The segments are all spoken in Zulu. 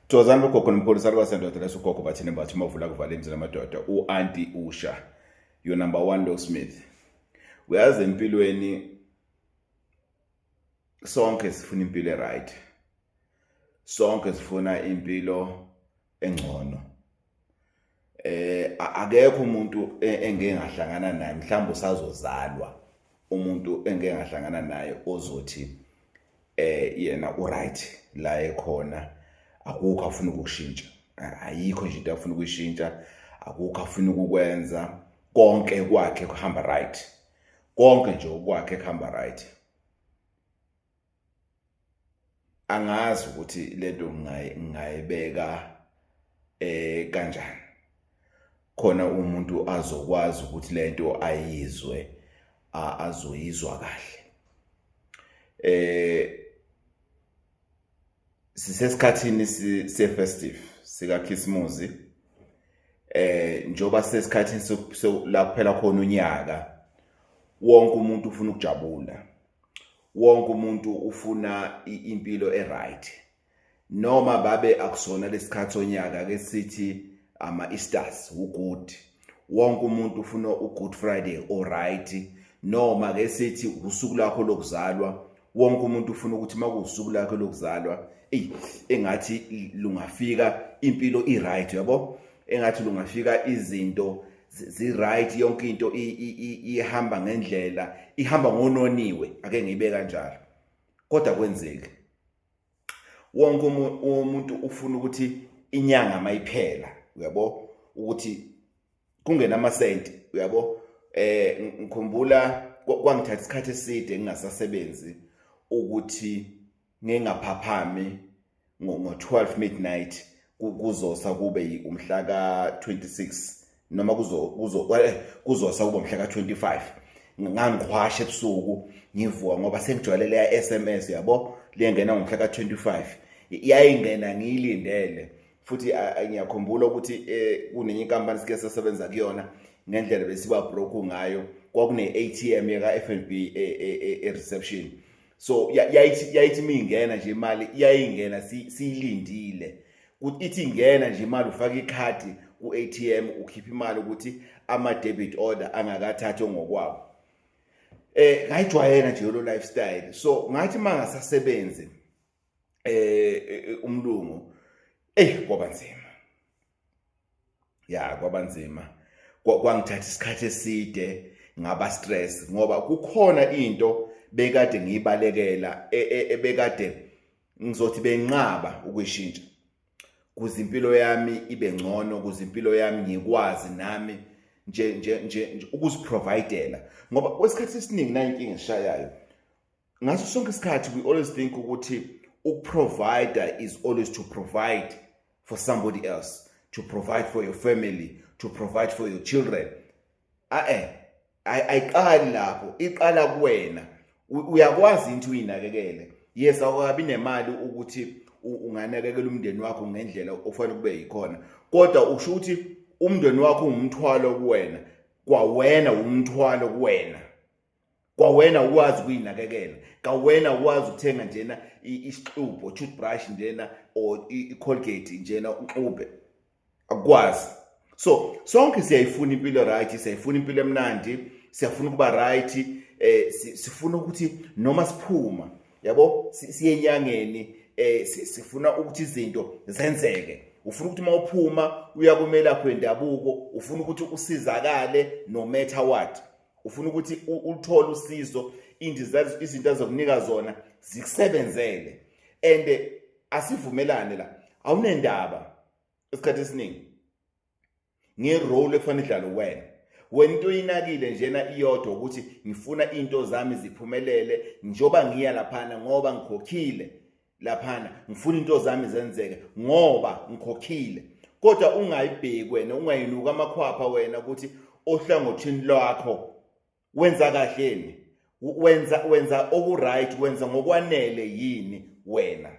Thokozani bogogo nomkhulu saluka sendoda leso gogo bathini bathi mavula kuvala imizila amadoda u-anti usha your number one low smith uyazi empilweni sonke sifuna impilo e-right sonke sifuna impilo engcono eh akekho umuntu e, engeke ngahlangana naye mhlawumbe usazozalwa umuntu engeke ngahlangana naye ozothi eh yena uright la ekhona akukho afuna ukushintsha ayikho nje into afuna ukuyishintsha akukho afuna ukukwenza konke kwakhe kuhamba right konke nje okwakhe kuhamba right angazi ukuthi lento ngingayibeka eh kanjani khona umuntu azokwazi ukuthi lento ayizwe azoyizwa kahle eh sisesikhathini sefestive sikaKhisimuzi eh njoba sesikhathini la kuphela khona unyaka wonke umuntu ufuna ukujabula wonke umuntu ufuna impilo eright noma babe akusona lesikhathi onyaka ke sithi ama Easters ugood wonke umuntu ufuna ugood friday alright noma ke sithi usuku lakho lokuzalwa wonke umuntu ufuna ukuthi makusuku lakho lokuzalwa ey engathi lungafika impilo i right yabo engathi lungafika izinto ziright yonke into ihamba ngendlela ihamba ngononiwe ake ngibe kanjalo kodwa kwenzeki wonke umuntu ufuna ukuthi inyanga mayiphela uyabo ukuthi kungena amasenti uyabo eh ngikhumbula kwangithatha isikhathi eside ngingasasebenzi ukuthi ngengaphaphami ngo-12 midnight kuzosa kube umhla ka-26 noma eh, kuzosa kube umhla ka-25 ngangiqhwasha ebusuku ngivuka ngoba sengijwayelele ya-s m s yabo liyengena ngomhla ka-25 yayingena ngiyilindele futhi ngiyakhumbula ukuthi eh, kunenye inkampani sike sasebenza kuyona ngendlela besiba broke ngayo kwakune-atm yaka-f n b e-reception e, e, e, so yayithi yayithi mingena nje imali iyayingena siyilindile ithi ingena nje imali ufaka ikhadi ku-ATM ukhipha imali ukuthi ama debit order angakathathwe ngokwawo eh ngayijwayela nje lo lifestyle so ngathi mangasasebenzi eh, eh, eh umlungu eh kwaba nzima ya kwabanzima kwangithatha isikhathi eside ngaba stress ngoba kukhona into bekade ngiyibalekela e, e, ebekade ngizothi benqaba ukuyishintsha kuze impilo yami ibe ngcono kuze impilo yami ngikwazi nami nje nje nje ukuziprovidela ngoba kwesikhathi esiningi nayo inkinga eshayayo ngaso sonke isikhathi we always think ukuthi ukuprovider is always to provide for somebody else to provide for your family to provide for your children ae ayiqali lapho iqala kuwena uyakwazi into uyinakekele yes awukabi nemali ukuthi unganakekela umndeni wakho ngendlela ofanele kube yikhona kodwa usho ukuthi umndeni wakho ungumthwalo kuwena kwawena umthwalo kuwena kwawena ukwazi ukuyinakekela kawena ukwazi ukuthenga njena isixubho toothbrush njena or icolgate njena uxube akwazi so sonke siyayifuna impilo right siyayifuna impilo emnandi siyafuna ukuba right eh sifuna ukuthi noma siphuma yabo siye enyangeni eh sifuna ukuthi izinto zenzeke ufuna ukuthi uma uphuma uya kumela kwendabuko ufuna ukuthi usizakale no matter what ufuna ukuthi uthole usizo indiza izinto azokunika zona zikusebenzele and asivumelane la awunendaba esikhathi esiningi ngerole ekufanele idlalo wena wena into oyinakile njena iyodwa ukuthi ngifuna into zami ziphumelele njoba ngiya laphana ngoba ngikhokhile laphana ngifuna into zami zenzeke ngoba ngikhokhile kodwa ungayibheki wena ungayinuka amakhwapha wena ukuthi ohlangothini lwakho wenza kahleni wenza wenza okuright wenza ngokwanele yini wena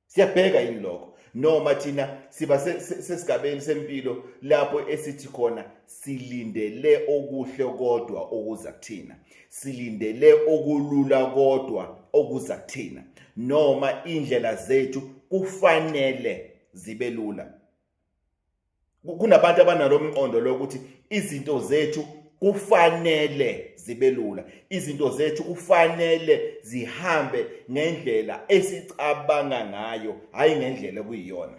siyabheka yini lokho noma thina siba sesigabeni sempilo lapho esithi khona silindele okuhle kodwa okuza kuthina silindele okulula kodwa okuza kuthina noma indlela zethu kufanele zibe lula kunabantu abanalo mqondo lokuthi izinto zethu kufanele zibe lula izinto zethu kufanele zihambe ngendlela esicabanga ngayo hayi ngendlela kuyiyona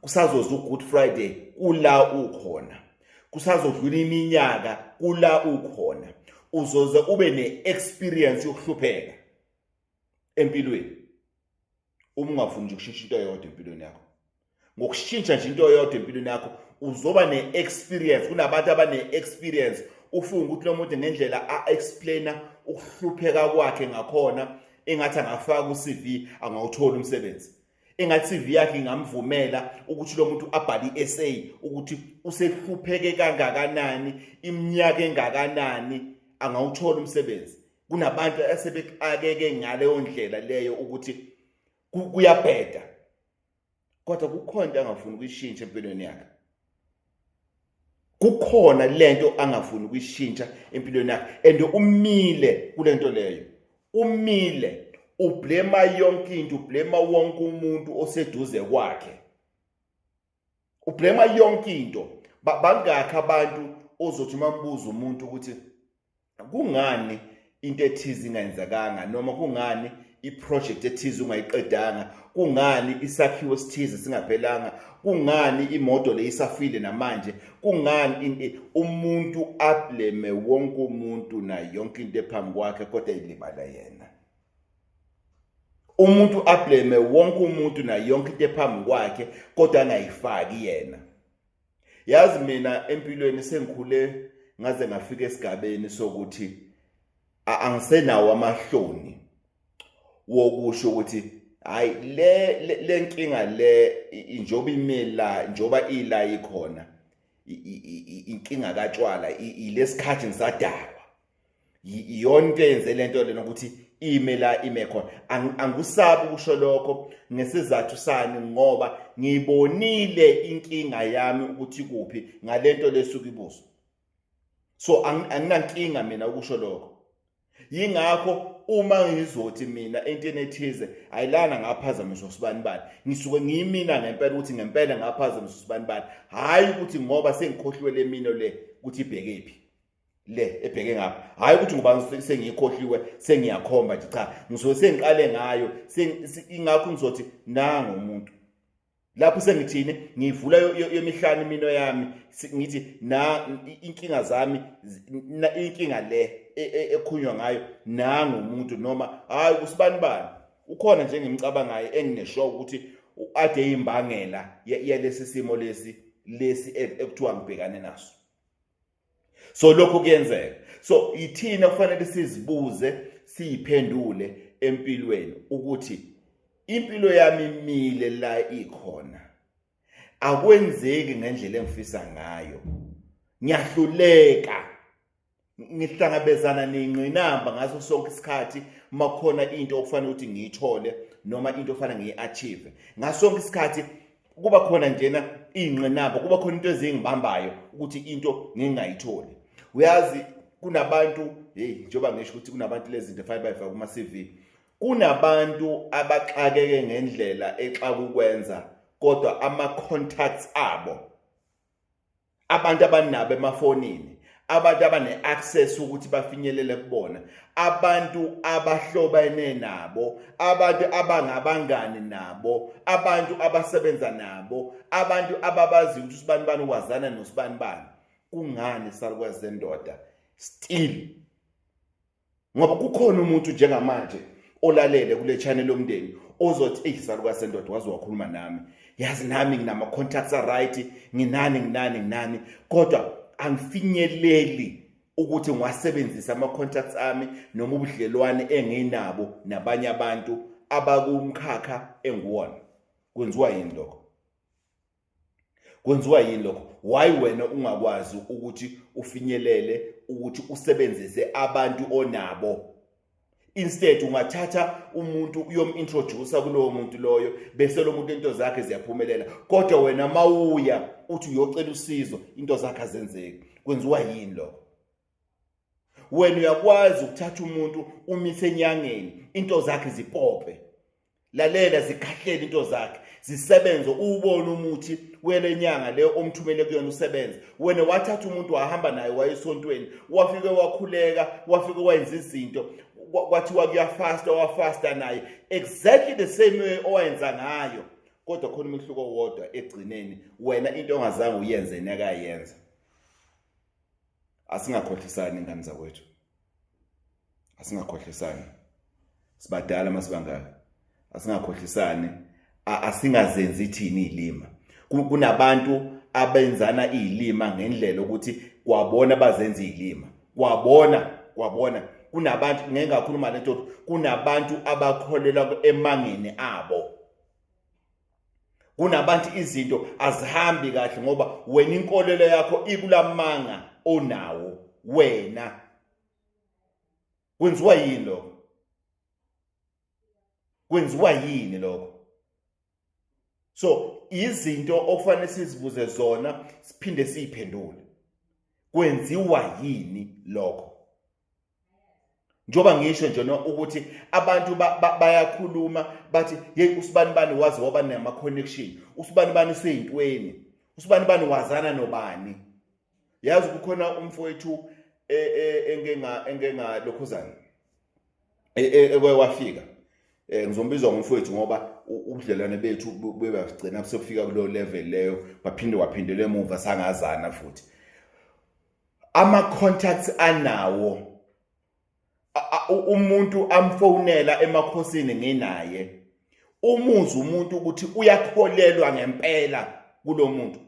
kusazoza uGood Friday kula ukhona kusazodlula iminyaka kula ukhona uzoze ube ne-experience yokuhlupheka empilweni uma ungafuni nje ukushintsha into eyodwa empilweni yakho ngokushintsha nje into eyodwa empilweni yakho uzoba ne-experience kunabantu abane-experience ufunga ukuthi lo muntu ngendlela a-explaina ukuhlupheka kwakhe ngakhona engathi angafaka ku-cv angawutholi umsebenzi engathi CV yakhe ingamvumela ukuthi lo muntu abhale i-essay ukuthi usehlupheke kangakanani iminyaka engakanani angawuthola umsebenzi kunabantu asebexakeke ngaleyo ndlela leyo ukuthi kuyabheda kodwa kukhona into angafuni ukuyishintsha empilweni yakhe kukhona lento angafuni ukuyishintsha empilweni yakhe and umile kulento leyo umile ublema yonke into ublema wonke umuntu oseduze kwakhe ublema yonke into bangakhi abantu ozothi mambuza umuntu ukuthi kungani into ethize ingayenzakanga noma kungani iproject ethize ungayiqedanga kungani isakhiwo esithize singaphelanga kungani imoto leyisafile namanje kungani umuntu ableme wonke umuntu na yonke into ephambi kwakhe kodwa ilibala yena umuntu ableme wonke umuntu na yonke into ephambi kwakhe kodwa angayifaki yena yazi mina empilweni sengikhule ngaze ngafika esigabeni sokuthi angisenawo amahloni wokusho ukuthi hayi le lenkinga le njoba imela njoba ila ikhona inkinga katshwala ilesikhathi ngisadalwa iyona into eyenze le nto lena ukuthi ime la ime khona angikusabi ukusho lokho ngesizathu sani ngoba ngibonile inkinga yami ukuthi kuphi ngalento lesuka ibuso so anginankinga mina ukusho lokho yingakho uma ngizothi mina entweni ethize ayilana ngaphazamisa usibani bani ngisuke ngiyimina ngempela ukuthi ngempela ngaphazamisa usibani bani hayi ukuthi ngoba sengikhohliwe le mino le ukuthi ibheke phi le ebheke ngapha hayi ukuthi ngoba sengiyikhohliwe sengiyakhomba nje cha ngisuke sengiqale ngayo ingakho ngizothi nango umuntu lapho sengithini ngivula yemihlanu imino yami ngithi na inkinga zami inkinga le e, e, ekhunywa ngayo nango umuntu noma hayi kusibani bani ukhona nje ngimcabangayo enginesho ukuthi ade imbangela yalesi simo lesi lesi e, ekuthiwa ngibhekane naso so lokho kuyenzeka so yithina kufanele sizibuze siyiphendule empilweni ukuthi impilo yami imile la ikhona akwenzeki ngendlela engifisa ngayo ngiyahluleka ngihlangabezana nengqinamba ngaso sonke isikhathi makhona into okufanele ukuthi ngiyithole noma into ofanele ngiyi-achieve ngaso sonke isikhathi kuba khona njena iy'nqinamba kuba khona into ezingibambayo ukuthi into ngingayitholi uyazi kunabantu heyi njengoba ngisho ukuthi kunabantu lezi zinto efanele bayifake kuma-cv kunabantu abaxakeke ngendlela exakukwenza kodwa ama-contacts abo abantu abanabo emafonini abantu abane-access ukuthi bafinyelele kubona abantu abahlobene nabo abantu abangabangani nabo abantu abasebenza nabo abantu ababaziyo ukuthi usibani bani wazana nosibani bani kungani salukwazi zendoda still ngoba kukhona umuntu njengamanje olalele kule channel lomndeni ozothi eyi saluka sendoda waze wakhuluma nami yazi nami nginama contacts are right nginani nginani nginani kodwa angifinyeleli ukuthi ngiwasebenzise ama contacts ami noma ubudlelwane enginabo nabanye abantu abakumkhakha enguwona kwenziwa yini lokho kwenziwa yini lokho why wena ungakwazi ukuthi ufinyelele ukuthi usebenzise abantu onabo instead ungathatha umuntu uyomintroducer kulowo muntu loyo bese lo muntu into zakhe ziyaphumelela kodwa wena mawuya uthi uyocela usizo into zakhe azenzeki kwenziwa yini lokho wena uyakwazi ukuthatha umuntu umise enyangeni into zakhe zipope lalela zikhahlele into zakhe zisebenze uwubone umuthi wele nyanga le omthumele kuyona usebenze wena wathatha umuntu wahamba naye wayesontweni wafike wakhuleka wafike wayenza izinto kwathiwa kuyafasta wafasta naye exactly the same way owayenza ngayo kodwa khona umehluko wodwa egcineni wena into ongazange uyenze nekayenza asingakhohlisani ingane zakwethu asingakhohlisani sibadala masibangaka asingakhohlisani asingazenzi thini ilima kunabantu abenzana ilima ngendlela ukuthi kwabona bazenza ilima kwabona kwabona kunabantu ngeke ngakhuluma lento kunabantu abakholelwa emangeni abo kunabantu izinto azihambi kahle ngoba wena inkolelo yakho ikulamanga onawo wena kwenziwa yini lokho kwenziwa yini lokho so izinto okufanele sizibuze zona siphinde siyiphendule kwenziwa yini lokho njengoba ngisho nje no ukuthi abantu bayakhuluma bathi hey usibanibani wazi waba nama connection usibanibani seyintweni usibanibani wazana nobani yazi kukhona umfowethu e, e, engenga engenga lokhuzana e, ekwafika eh ngizombizwa ngomfowethu ngoba ubudlelwane bethu bebagcina kusefika kulo level leyo baphinde waphindelela emuva sangazana futhi ama contacts anawo umuntu amfonela emakhosini nginaye umuzi umuntu ukuthi uyakholelwa ngempela kulomuntu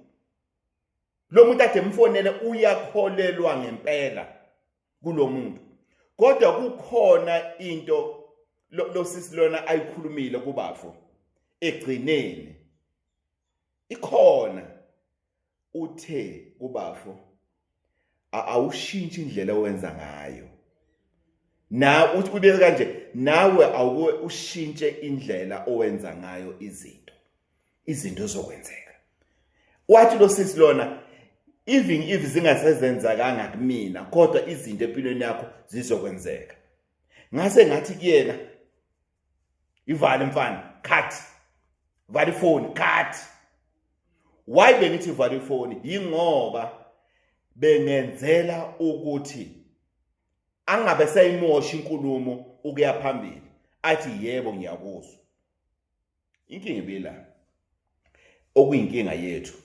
lo muntu ade mfonele uyakholelwa ngempela kulomuntu kodwa kukhona into lo sisi lona ayikhulumile kubafo egcineni ikhona uthe kubafo awushintshi indlela owenza ngayo na uthi ubeke kanje nawe awuke ushintshe indlela owenza ngayo izinto izinto zokwenzeka wathi lo sisi lona even if zingasezenzakanga kumina kodwa izinto empilweni yakho zizokwenzeka ngase ngathi kuyena ivale mfana cut vale ifoni cut why bengithi vale ifoni yingoba bengenzela ukuthi angabe seyimoshi inkulumo ukuya phambili athi yebo ngiyakuzwa inkinga ibila okuyinkinga yethu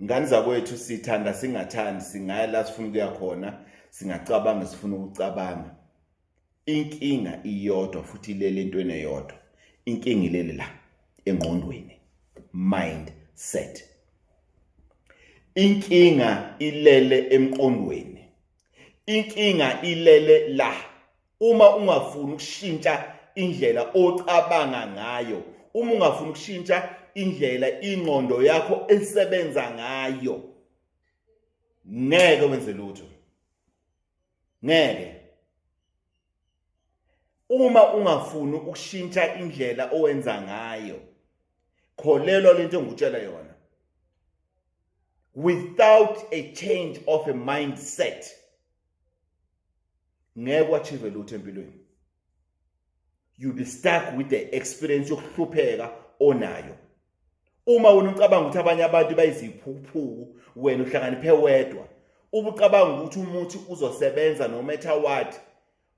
ngani zakwethu sithanda singathandi singaya la sifuna ukuya khona singacabanga sifuna ukucabanga inkinga iyodwa futhi ilele entweni eyodwa inkinga ilele la engqondweni mind set inkinga ilele emqondweni inkinga ilele la uma ungafuni ukushintsha indlela ocabanga ngayo uma ungafuni ukushintsha indlela ingqondo yakho esebenza ngayo ngeke wenze lutho ngeke uma ungafuni ukushintsha indlela owenza ngayo kholelwa lento engikutshela yona without a change of a mindset ngeke wachieve lutho empilweni you be stuck with the experience yokuhlupheka onayo uma wena ucabanga ukuthi abanye abantu bayiziphuphuku wena uhlakaniphe wedwa ubucabanga ukuthi umuthi uzosebenza no matter what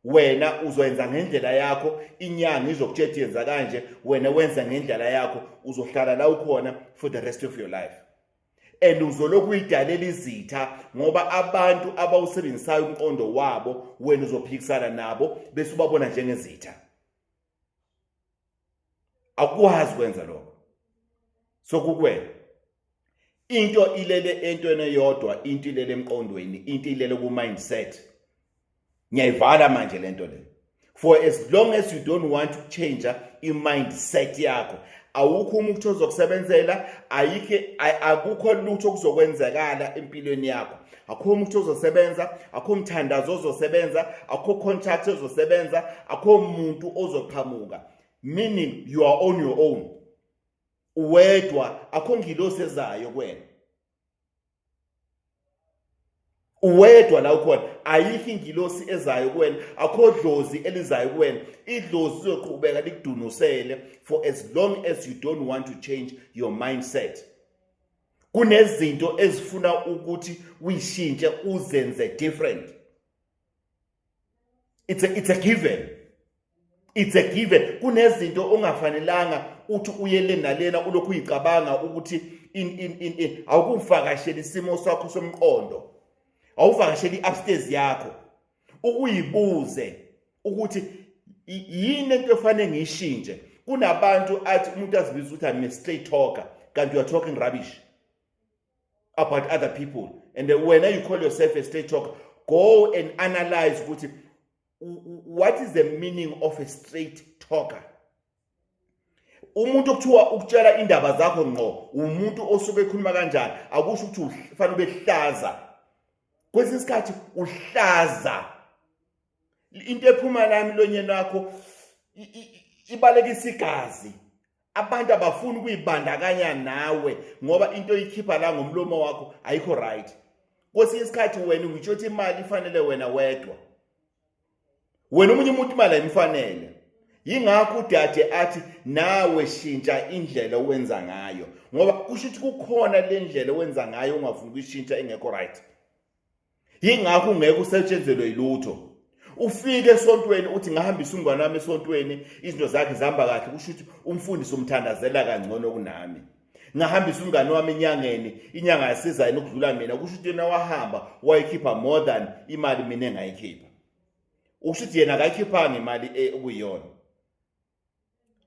wena uzoyenza ngendlela yakho inyanga izokutshela yenza kanje wena wenza ngendlela yakho uzohlala la ukhona for the rest of your life and uzolokhu uyidalela izitha ngoba abantu abawusebenzisayo umqondo wabo wena uzophikisana nabo bese ubabona njengezitha akwazi kwenza lokho sokukwena into ilele entweni eyodwa into ilele emqondweni into ilele ku mindset ngiyayivala manje lento le for as long as you don't want to change i-mindset yakho awukho umuntu ozokusebenzela ayikho akukho lutho okuzokwenzekala empilweni yakho akho umuntu ozosebenza akho umthandazo ozosebenza akho contract ozosebenza akho umuntu ozoqhamuka meaning you are on your own uwedwa akho ngilosi ezayo kwena uwedwa la ukhona ayikho ingilosi ezayo kuwena akho dlozi elizayo kuwena idlozi lizoqhubeka likudunusele for as long as you don't want to change your mindset kunezinto ezifuna ukuthi uyishintshe uzenze different it's a, it's a given it's a given kunezinto ongafanelanga uthi uyele nalena ulokhu uyicabanga ukuthi in in in, in. awukuvakasheli isimo sakho somqondo awuvakasheli i-upstairs yakho ukuyibuze ukuthi yini into efanele ngiyishintshe kunabantu athi umuntu azibiza ukuthi i'm a straight talker kanti you are talking rubbish about other people and when you call yourself a straight talker go and analyze ukuthi what is the meaning of a straight talker umuntu okuthiwa ukutshela indaba zakho ngqo umuntu osuke ekhuluma kanjani akusho ukuthi ufanele ubehlaza kwesinye isikhathi uhlaza into ephuma la emlonyeni wakho ibalekisa igazi abantu abafuni ukuyibandakanya nawe ngoba into oyikhipha la ngomlomo wakho ayikho right kwesinye isikhathi wena ngitsho ukuthi imali ifanele wena wedwa wena omunye umuntu imali ayimfanele yingakho udade athi nawe shintsha indlela owenza ngayo ngoba kusho ukuthi kukhona le ndlela owenza ngayo ungafuni ukuyishintsha engekho right yingakho ungeke usetshenzelwe yilutho ufike esontweni uthi ngahambisa umngane wami esontweni izinto zakhe zihamba kahle kusho ukuthi umfundisi umthandazela kangcono kunami ngahambisa umngane wami enyangeni inyanga yasiza yena ukudlula mina kusho ukuthi yena wahamba wayikhipha more than imali mina engayikhipha usho ukuthi yena akayikhiphanga imali eh, okuyiyona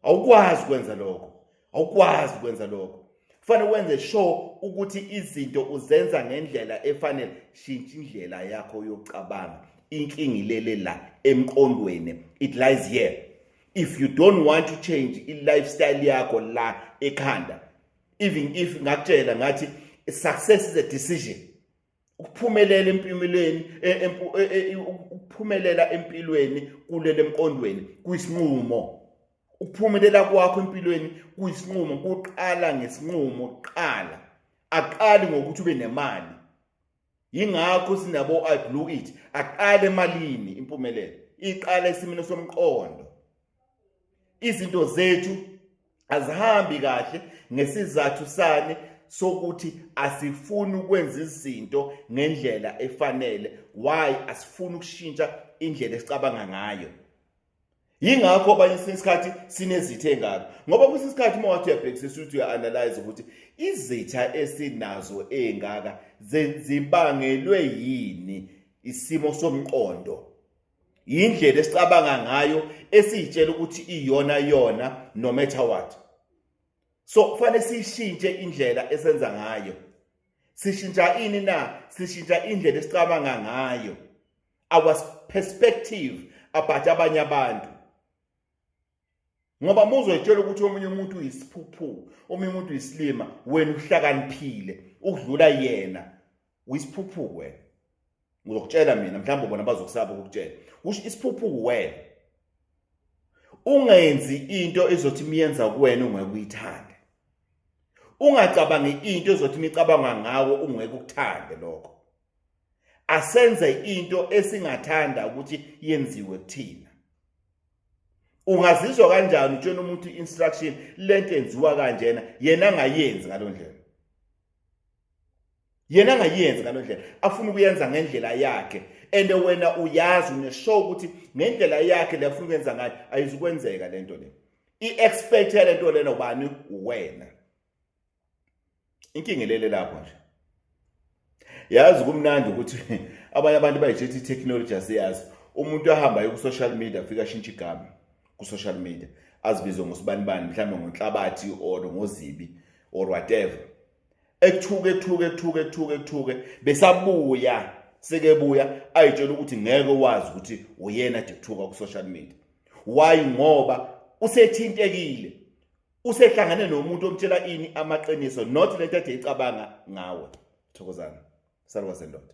awukwazi ukwenza lokho awukwazi ukwenza lokho kufanele wenze sure ukuthi izinto uzenza ngendlela efanele shintsha indlela yakho yokucabanga inkinga ilele la emqondweni it lies here if you don't want to change i-lifestyle yakho la ekhanda even if ngakutshela ngathi success is a decision ukuphumelela empimelweni e, e, e, ukuphumelela empilweni kulele emqondweni kuyisinqumo ukuphumelela kwakho empilweni kuyisinqumo kuqala ngesinqumo kuqala aqali ngokuthi ube nemali yingakho sinabo i blew it aqale emalini impumelelo iqala esimini somqondo izinto zethu azihambi kahle ngesizathu sani sokuthi asifuni ukwenza izinto ngendlela efanele why asifuni ukushintsha indlela esicabanga ngayo yingakho abanye esinye isikhathi sinezitha engako ngoba kwesinye isikhathi uma wathi uyabhekisisa ukuthi uya-analyze ukuthi izitha esinazo engaka zibangelwe yini isimo somqondo yindlela esicabanga ngayo esiyitshela ukuthi iyona yona no matter what so kufanele sishintshe indlela esenza ngayo sishintsha ini na sishintsha indlela esicabanga ngayo our perspective about abanye abantu ngoba muzwetshela ukuthi omunye umuntu uyisiphuphu omunye umuntu uyisilima wena uhlakaniphile ukudlula yena uyisiphuphu wena ngizokutshela mina mhlawumbe bona bazokusaba ukukutshela kusho isiphuphu wena ungenzi into ezothi miyenza kuwena ungeke uyithande ungacabangi into ezothi micabanga ngawo ungeke ukuthande lokho asenze into esingathanda ukuthi yenziwe kuthina ungazizwa kanjani utshena umuntu instruction lento enziwa kanjena yena angayenzi ngalondlela yena angayenzi ngalondlela afuna ukuyenza ngendlela yakhe and wena uyazi uneshow ukuthi ngendlela yakhe lefuna ukwenza ngayo ayizukwenzeka lento le i-expect yalento lena ubani uwena inkinga ilele lapho nje yazi kumnandi ukuthi abanye abantu bayithetha i-technology asiyazi umuntu ahamba aye ku-social media afike ashintshe igama ku-social media azibizwe ngosibanibani mhlawumbe ngonhlabathi or ngozibi or whatever ekuthuke ekuthuke ekuthuke ekuthuke ekuthuke besabuya sekebuya ayitshela ukuthi ngeke wazi ukuthi uyena nje kuthuka ku-social media why ngoba usethintekile usehlangane nomuntu omtshela ini amaqiniso not lento ade icabanga ngawe thokozana salwa sendoda